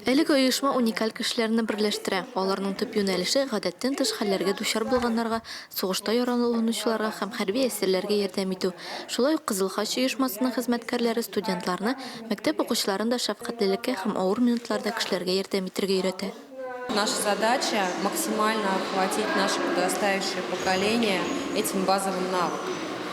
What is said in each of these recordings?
Әлеге оешма уникаль кешеләрне берләштерә, аларның төп юнәлеше, гадәттән тыш хәлләргә дучар булганнарга, сугышта яраланучыларга һәм хәрби әсирләргә ярдәм итү. Шулай ук Кызыл Хач оешмасының хезмәткәрләре студентларны, мәктәп укучыларын да шәфкатьлелеккә һәм авыр минутларда кешеләргә ярдәм итәргә өйрәтә. Наша задача, максимально охватить наше подрастающее поколение этим базовым навыкам.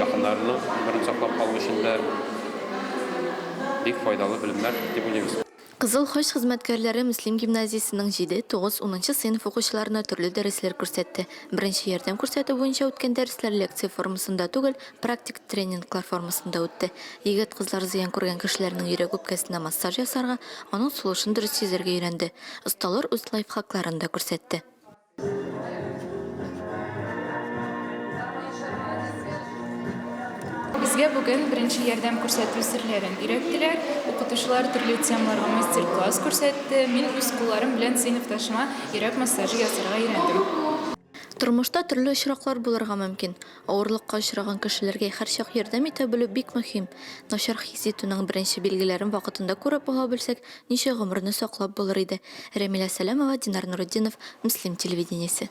якыннарының гомерен саклап калу өчен дә бик файдалы белемнәр дип уйлыйбыз. Кызыл Хач хезмәткәрләре Мөслим гимназиясенең җиде, тугыз, унынчы сыйныф укучыларына төрле дәресләр күрсәтте. Беренче ярдәм күрсәтү буенча үткән дәресләр лекция формасында түгел, практик тренинглар формасында үтте. Егет-кызлар зыян күргән кешеләрнең йөрәк-үпкәсенә массаж ясарга, аның сулышын дөрес сизәргә өйрәнде. Осталар үз лайфхакларын да күрсәтте. Безгә бүген беренче ярдәм күрсәтү серләрен өйрәттеләр. Укытучылар төрле темаларга мастер-класс күрсәтте. Мин үз кулларым белән сыйныфташыма йөрәк массажы ясарга өйрәндем. Тормышта төрле очраклар булырга мөмкин. Авырлыкка очраган кешеләргә һәрчак ярдәм итә белү бик мөһим. Начар хис итүнең беренче билгеләрен вакытында күреп ала белсәк, ничә гомерне саклап булыр иде. Рәмилә Сәләмова, Динар Нуретдинов, Мөслим телевидениесе.